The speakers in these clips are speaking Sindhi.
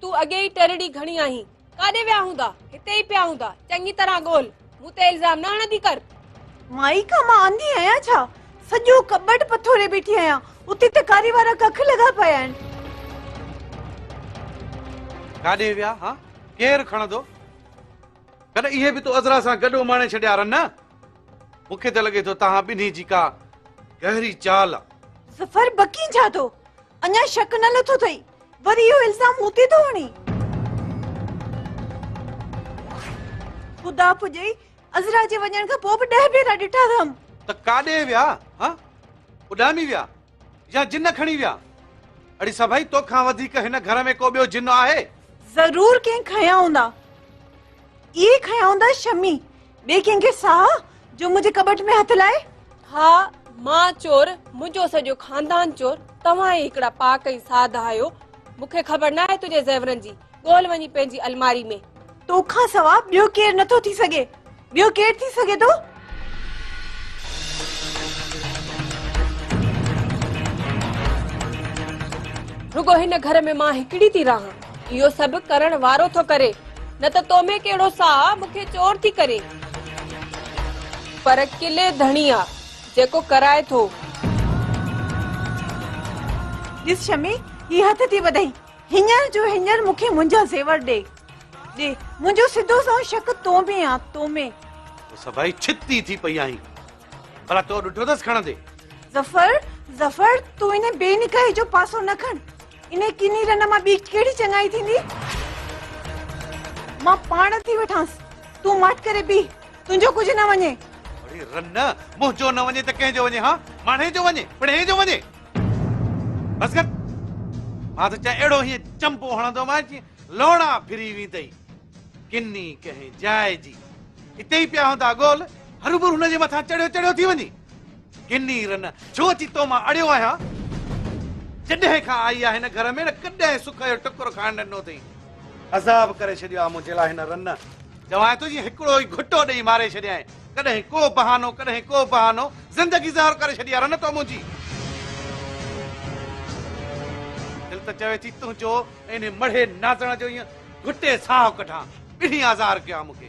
تون اڳي ئي ٽرڙي گهڻي آهين. ڪاڏي ويا هوندا؟ هتي ئي پيا هوندا. چڱي طرح ڳول. مون تي الزام نه هڻندي ڪر. مائي کان مان انڌي آهيان ڇا؟ سڄو ڪٻٽ پٿوري بيٺي آهيان. اتي ته ڪاري وارا ڪک لڳا پيا آهن. ڪاڏي ويا ها؟ ڪير کڻندو؟ ڪڏهن اهي به تو عذرا سان گڏ اماڻي ڇڏيا رن نه؟ مون کي ته لڳي ٿو توهان ٻنهي جي ڪا گهري چال آ. ظفر بڪين ڇا ٿو؟ اڃا شڪ نه لٿو اٿئي وري اهو الزام مون تي ٿو هڻي خدا پڄي عزرا جي وڃڻ کان پوء به ڏهه ڀيرا ڏٺا اٿم ته ڪاڏي ويا ها اڏامي ويا يا جن کڻي ويا اڙي سڀئي توکان وڌيڪ هن گهر ۾ ڪو ٻيو جن آهي ضرور ڪنهن کنيا هوندا اهي کنيا هوندا شمي ٻئي ڪنهن کي ساهه جو منهنجي ڪٻٽ ۾ هٿ لائي؟ ها، مان چور، منهنجو سڄو خاندان چور، توهان ئي هڪڙا پاڪ ۽ ساڌ آهيو. مون کي خبر ناهي تنهنجي زيورن جي، ڳول وڃي پنهنجي الماري ۾. تو کان سوا ٻيو ڪير نٿو ٿي سگهي، ٻيو ڪير ٿي سگهي ٿو؟ رڳو هن گهر ۾ مان هڪڙي ٿي رهان. اهو سڀ ڪرڻ وارو ٿو ڪري. نه ته تو ۾ ڪهڙو ساهه آ، مون کي چور ٿي ڪرين. پر قلعي ڌڻي آ، جيڪو ڪرائي ٿو. ڏس شمي، هي هٿ ٿي وڌئي. هينئر جو هينئر مون کي منهنجا زيور ڏي. ڏي. منهنجو سڌو سنئون شڪ تو ۾ آ، تو ۾. تو سڀائي ڇت ئي ٿي پئي آهين. ڀلا تو ڏٺو اٿس کڻندي؟ ظفر، ظفر، تون ان بي نڪاحي جو پاسو نه کڻ. انهيء ڪني رن مان ٻي ڪهڙي چڱائي ٿيندي؟ مان پاڻ ٿي وٺانس. تون ماٺ ڪري بيهه. تنهنجو ڪجهه نه وڃي. اڙي رن، منهنجو نه وڃي ته ڪنهن جو وڃي ها؟ ماڻهي جو وڃي، پڻهي جو وڃي. بس ڪر. مان ته چاهي اهڙو هيئن چنبو هڻندومانس جيئن لوڻا ڦري ويندئي. ڪني ڪنهن جاء جي. اتي ئي پيا هوندا گول. هروڀرو هن جي مٿان چڙهيو چڙهيو ٿي وڃي. گني رن، ڇو اچي تو مان اڙيو آهيان؟ جڏهن کان آئي آهي هن گهر ۾ نه ڪڏهن سک جو ٽڪر کائڻ ڏنو اٿئي. عذاب ڪري ڇڏيو آهي منهنجي لاء هن رن. چوانء ٿو جيئن هڪڙو ئي گهٽو ڏيئي ماري ڇڏيائين. ڪڏهن ڪو بهانو ڪڏهن ڪو بهانو. زندگي زهر ڪري ڇڏي آهي رن تو منهنجي. دل ته چوي ٿي تنهنجو ۽ انهي مڙهي نازڻ جو ايئن گهٽي ساهه ڪڍان. ٻنهي آزار ڪيو آهي مون کي.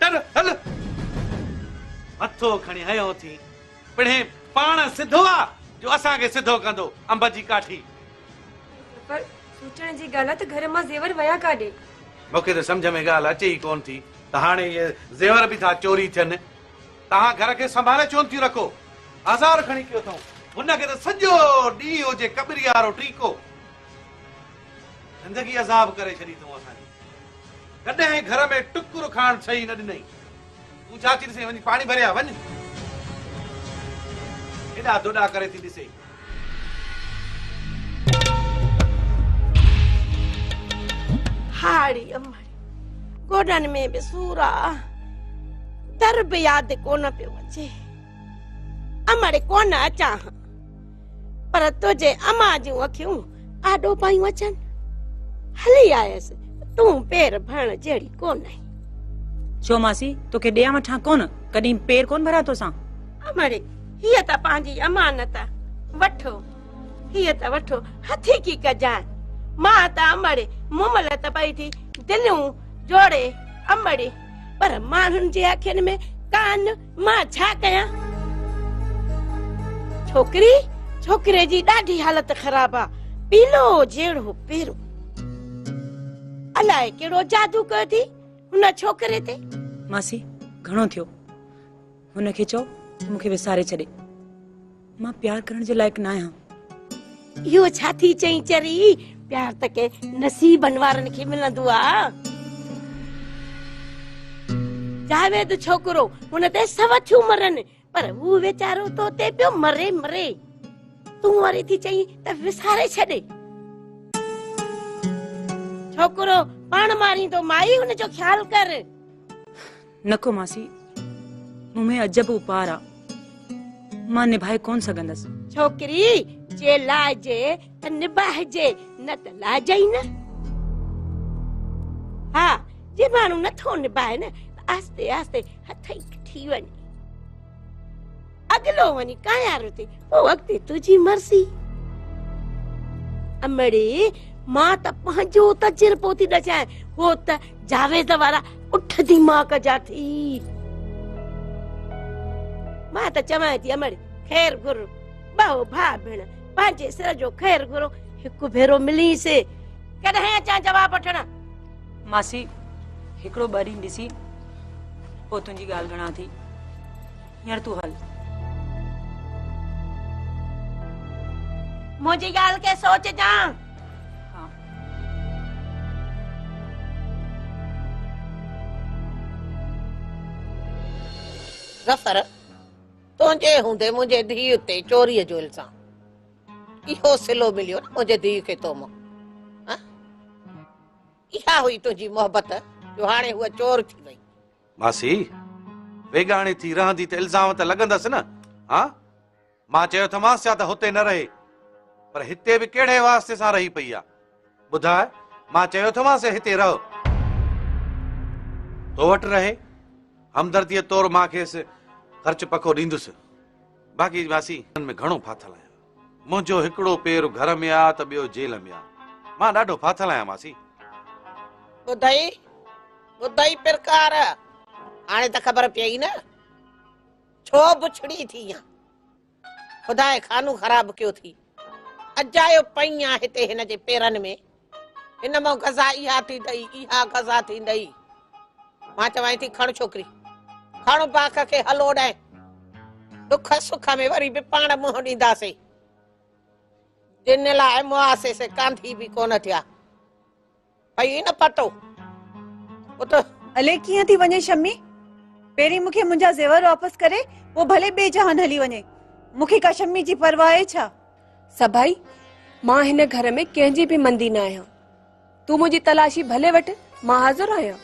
ٽر هل! مٿو کڻي هنيو ٿي، پڻهين پاڻ سڌو آ جو اسان کي سڌو ڪندو، انب جي ڪاٺي! پر سوچڻ جي ڳالهه آ ته گهر مان زيور ويا ڪاڏي؟ مون کي ته سمجهه ۾ ڳالهه اچي ئي ڪونه ٿي ته هاڻي اهي زيور به ٿا چوري ٿين. توهان گهر کي سنڀالي ڇونه ٿيون رکو؟ آزار کڻي پيو اٿئون، هن کي ته سڄو ڏينهن هجي ڪٻريارو ٽيڪو. زندگي عذاب ڪري ڇڏي اٿئون اسان جي. ڪڏهن گهر ۾ ٽڪر کائڻ ڇهي نه ڏنئي. تون ڇا ٿي ڏسين وڃ پاڻي ڀري آ وڃ. هيڏا دوڏا ڪري ٿي ڏسين. هاڙي امڙي گوڏن ۾ به سور آ. در به ياد ڪونه پيو اچي. امڙي ڪونه اچان هان. پر تنهنجي اما جون اکيون آڏو پايون اچن هلي آيس تون پير ڀرڻ جهڙي ڪون آهين ڇو ماسي توکي ڏيان وٺان ڪون ڪڏهن پير ڪون ڀريا توسان امڙي هي ته پنهنجي امانت وٺو هي ته وٺو هٿي ڪي ڪجان مان ته امڙي مملت پئي ٿي دليون جوڙي امڙي پر ماڻهن جي اکين ۾ ڪان مان ڇا ڪيان؟ ڇوڪري، ڇوڪري جي ڏاڍي حالت خراب آ، پيلو جهڙو پيرو. الاء ڪهڙو جادو ڪيو اٿئي هن ڇوڪري تي. ماسي، گهڻو ٿيو. هن کي چئو ته مون کي وساري ڇڏي. مان پيار ڪرڻ جي لائق ناهيان. اهو ڇا ٿي چئين چري، پيار ته ڪي نصيبن وارن کي ملندو آ. جاويد ڇوڪرو هن تي سو ٿيون مرن پر هو ويچارو تو تي پيو مري مري. تون وري ٿي چئين ته وساري ڇڏ. ڇوڪرو پاڻ ماريندو مائي ان جو خيال ڪر. نڪو ماسي، مون ۾ عجب اپار آ، مان نڀائي ڪونه سگهندس. ڇوڪري جي لائجي ته نڀائجي، نه ته لائجي ئي نه. ها، جي ماڻهو نٿو نڀائي نه ته آهستي آهستي هٿ ئي ڪٽي وڃي. اڳلو وڃي ڪايارو ٿي پوء اڳتي تنهنجي مرضي امڙي مان ته پنهنجو تجربو ٿي ڏسان هو ته جاويد وارا اٺ دماغ جا ٿي مان ته چوان ٿي امڙ خير گھر ٻهو ڀا ڀيڻ پنهنجي سر جو خير گھرو هڪ ڀيرو ملي سي ڪڏهن اچان جواب وٺڻ ماسي هڪڙو ٻه ڏينهن ڏسي پوء تنهنجي ڳالهه گھڻا ٿي هينئر تون هل. منهنجي ڳالهه کي سوچجان. ظفر، تنهنجي هوندي منهنجي ڌيء تي چوريء جو الزام. اهو صلو مليو نه منهنجي ڌيء کي تو مان. اها هئي تنهنجي محبت جو هاڻي هوء چور ٿي وئي. ماسي! ويڳاڻي ٿي رهندي ته الزام ته لڳندس نه؟ ها؟ مان چيو اٿمانس ڇا ته هتي نه رهي؟ پر هتي به ڪهڙي واسطي سان رهي پئي آ؟ ٻڌاء، مان چيو اٿمانس هتي رهه. تو وٽ رهي. همدرديء طور مان کيس خرچ پکو ڏيندس. باقي ماسي، هن ۾ گهڻو ڦاٿل آهيان. منهنجو هڪڙو پير گهر ۾ آ ته ٻيو جيل ۾ آ. مان ڏاڍو ڦاٿل آهيان ماسي. ٻڌئي ٻڌئي پرڪار، هاڻي ته خبر پيئي نه ڇو بڇڙي ٿي ائين. خدائي خانو خراب ڪيو ٿي. اجايو پئين آ هتي هن جي پيرن ۾. ان مان غذا اها ٿيندئي، اها غذا ٿيندئي. مان چوانء ٿي کڻ ڇوڪري، کڻ باک کي هل اوڏانء. ڏک سک ۾ وري به پاڻ منهن ڏينداسين. جن لاء مئاسي سي ڪانڌي به ڪونه ٿيا. پئي نه پتو. ات. هلي ڪيئن ٿي وڃي شمي؟ پهرين مون کي منهنجا زيور واپس ڪري، پوء ڀلي ٻئي جهان هلي وڃي. مون کي ڪا شمي جي پرواهه آهي ڇا؟ سڀائي، مان هن گهر ۾ ڪنهن جي به مندي نه آهيان. تون منهنجي تلاشي ڀلي وٺ، مان حاضر آهيان.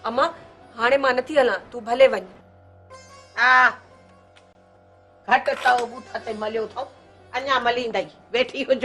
امان، هاڻي مان نٿي هلان، تون ڀلي وڃ. آء گهٽ تئو بوٿ تي مليو اٿئون، اڃا مليندئي، ويٺي هج.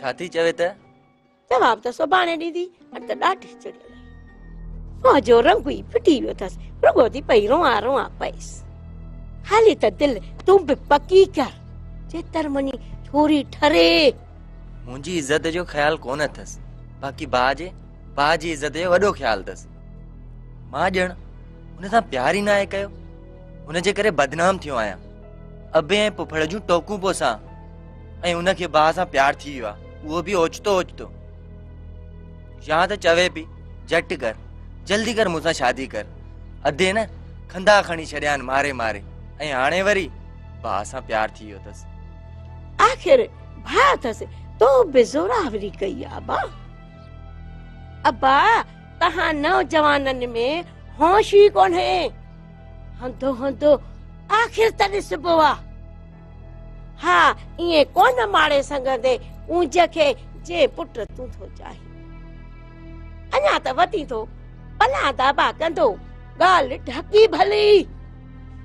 ڇا ٿي چوي ته جواب ته سڀاڻي ڏيندي اڄ ته ڏاڍي چڙيل منهن جو رنگ ئي ڦٽي ويو اٿس رڳو ٿي پئي روان روان پئيس هلي ته دل تون به پڪي ڪر چيتر مني ڇوري ٺري منهنجي عزت جو خيال ڪون اٿس باقي با جي با جي عزت جو وڏو خيال اٿس مان ڄڻ هن سان پيار ئي ناهي ڪيو هن جي ڪري بدنام ٿيو آهيان ابي ۽ پڦڙ جون ٽوڪون پوسان ۽ ان کي باهه سان پيار ٿي ويو آهي اهو به اوچتو اوچتو يا ته چوي پي جٽ ڪر جلدي ڪر مون سان شادي ڪر اڌي نه کندا کڻي ڇڏيا آهن ماري ماري ۽ هاڻي وري باهه سان پيار ٿي ويو اٿس آخر ڀاء اٿس تو به زوراوري ڪئي ابا ابا تهان نوجوانن ۾ هوش ئي ڪونهي هندو هندو آخر ته ڏسبو آهي ها ائين ڪونه ماڙي سگهندي اونج کي جي پٽ تون ٿو چاهين اڃا ته وتي ٿو پلا دابا ڪندو ڳالهه ڍڪي ڀلي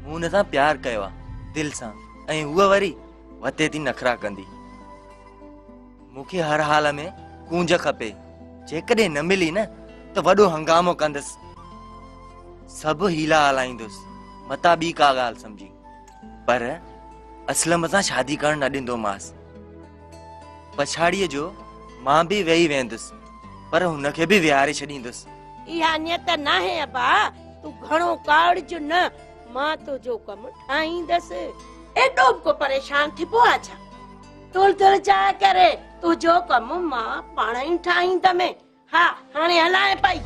مون هن سان پيار ڪيو آ دل سان ۽ هو وري وتي ٿي نخرا ڪندي مونکي هر حال ۾ ڪونج کپي جيڪڏهن نه ملي نه ته وڏو هنگامو ڪندس سڀ هيلا هلائيندس متا ٻي ڪا ڳالهه سمجهي پر اسلم سان شادي ڪرڻ نه ڏيندومانس. پڇاڙيء جو مان به ويهي ويهندس، پر هن کي به ويهاري ڇڏيندس. اها نيت ناهي ابا، تون گهڻو ڪاوڙج نه، مان تنهنجو ڪم ٺاهيندس. ايڏو به ڪو پريشان ٿبو آ ڇا؟ تولدڙ جاء ڪري تنهنجو ڪم مان پاڻهئي ٺاهيندمين. ها هاڻي هلانء پئي.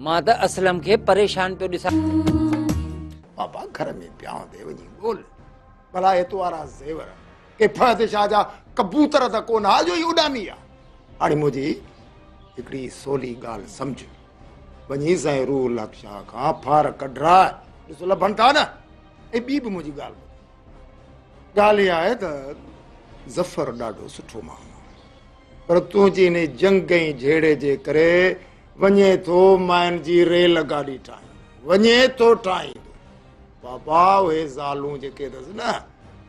مان ته اسلم کي پريشان پيو ڏسان. بابا گهر ۾ پيا هوندي وڃي ڳول ڀلا اتوارا زيور ڪي فهد شاهه جا ڪبوتر ته ڪونه ها جو هي اڏامي ها هاڻي منهنجي هڪڙي سولي ڳالهه سمجهه وڃي سائين روح الحق شاهه کان ڦار ڪڍراء ڏس لڀن ٿا نه ۽ ٻي به منهنجي ڳالهه ٻڌ ڳالهه اها آهي ته ظفر ڏاڍو سٺو ماڻهو آهي پر تنهنجي ان جنگ ۽ جهيڙي جي ڪري وڃي ٿو مائن جي ريل گاڏي ٺاهيندو وڃي ٿو ٺاهيندو بابا اهي زالون جيڪي اٿس نه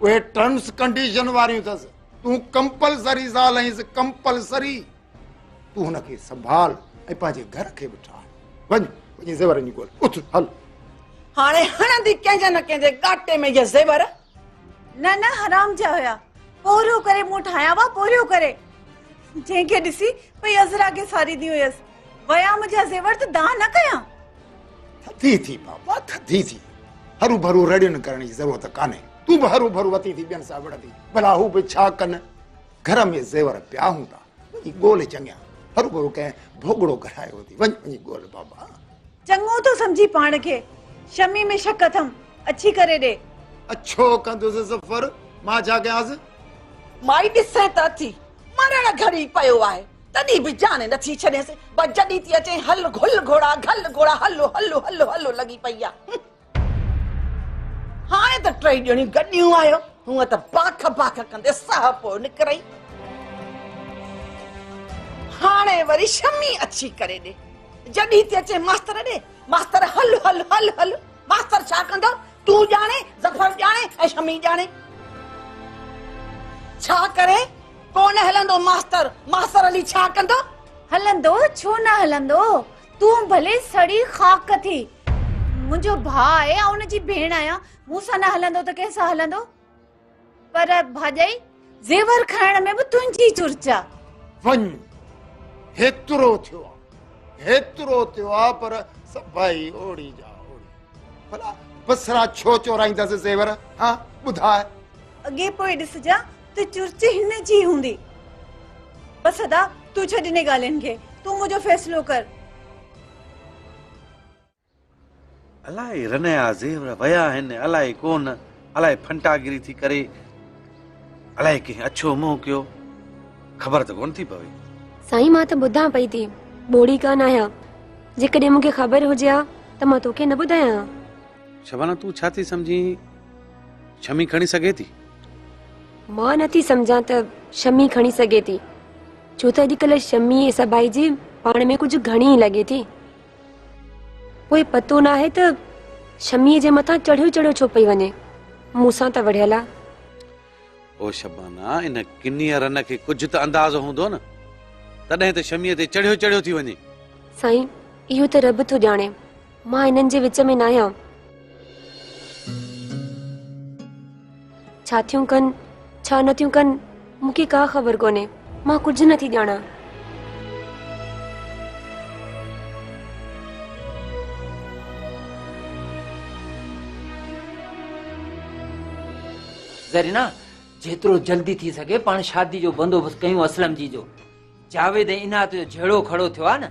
اهي ٽرمس ڪنڊيشن واريون اٿس تون ڪمپلسري زال آهيس ڪمپلسري تون هن کي سنڀال ۽ پنهنجي گهر کي به ٺاهه وڃ وڃي زيور جي ڳول اٿ هل هاڻي هڻندي ڪنهن جي نه ڪنهن جي ڳاٽي ۾ يا زيور نه نه حرام جا هيا پوريو ڪري مون ٺاهيا وا پوريو ڪري جنهن کي ڏسي پئي عزرا کي ساريندي هيس ويا منهنجا زيور ته دان نه ڪيا ٿي ٿي بابا ٿي ٿي هرو ڀرو رڙين ڪرڻ جي ضرورت ڪانهي تون به هرو ڀرو وتي ٿي ٻين سان وڙندي ڀلا هو به ڇا ڪن گهر ۾ زيور پيا هوندا، وڃي ڳول چڱيا. هروڀرو ڪنهن ڀوڳڙو گهرايو هوندي، وڃ وڃي ڳول بابا. چڱو ٿو سمجهي پاڻ کي، شمي ۾ شڪ اٿم، اڇي ڪري ڏي. اڇو ڪندس ظفر، مان ڇا ڪيانس؟ مائي ڏسين ته اٿي، مرڻ گهڙي پيو آهي، تڏهن به جاني نٿي ڇڏينس، بس جڏهن ٿي اچين هل گهل گهوڙا گهل گهوڙا هلو هلو هلو هلو لڳي پئي آهي. هاڻي ته ٽئي ڄڻيون گڏيون آهيو، هونء ته باک باک ڪندي ساهه پوء نڪرئي. هاڻي وري شمي اڇي ڪري ڏي. جڏهين ٿي اچين ماستر ڏي، ماستر هل هل هل هل. ماستر ڇا ڪندو، تون ڄاڻين، ظفر ڄاڻي ۽ شمي ڄاڻي. ڇا ڪرين، ڪو نه هلندو ماستر، ماستر هلي ڇا ڪندو. هلندو، ڇو نه هلندو، تون ڀلي سڙي خاڪ ٿي. منهنجو ڀاء آهي، آئون ان جي ڀيڻ آهيان. مون سان نه هلندو ته ڪنهن سان هلندو؟ پر ڀاڄائي، زيور کائڻ ۾ به تنهنجي چرچا. وڃ، هيترو ٿيو آ، هيترو ٿيو آ، پر سڀائي اوڙي جا اوڙي. ڀلا بسرا ڇو چورائيندس زيور؟ ها، ٻڌاء. اڳي پوء ڏسجان. ته چرچ هن جي هوندي. بس ادا تون ڇڏ انهن ڳالهين کي. تون منهنجو فيصلو ڪر. الائي رنيا زيور ويا آهن الائي ڪونه الائي ڦنٽاگري ٿي ڪري الائي ڪنهن اڇو منهن ڪيو خبر ته ڪونه ٿي پوي. سائين مان ته ٻڌان پئي ٿي ٻوڙي ڪانه آهيان جيڪڏهن مون کي خبر هجي ها ته مان توکي نه ٻڌايان ها. شبانه تون ڇا ٿي سمجهين. شمي کڻي سگهي ٿي؟ مان نه ٿي سمجهان ته شمي کڻي سگهي ٿي ڇو ته اڄڪلهه شمي ۽ سڀائي جي پاڻ ۾ ڪجهه گهڻي ئي لڳي ٿي پوء پتو نه آهي ته شميء جي مٿان چڙهيو چڙهيو ڇو پئي وڃي مون سان ته وڙهيل آهي او شبانا ان ڪنيء رن کي ڪجهه ته اندازو هوندو نه تڏهن ته شميء تي چڙهيو چڙهيو ٿي وڃي سائين اهو ته رب ٿو ڄاڻي مان هنن جي وچ ۾ ناهيان. ڇا ٿيون ڪن ڇا نه ٿيون ڪن مون کي ڪا خبر ڪونهي مان ڪجهه نٿي ڄاڻان. زرينا جيترو جلدي ٿي سگهي پاڻ شادي جو بندوبست ڪيون اسلم جي جو جاويد ۽ عنايت جو جهيڙو کڙو ٿيو آهي نه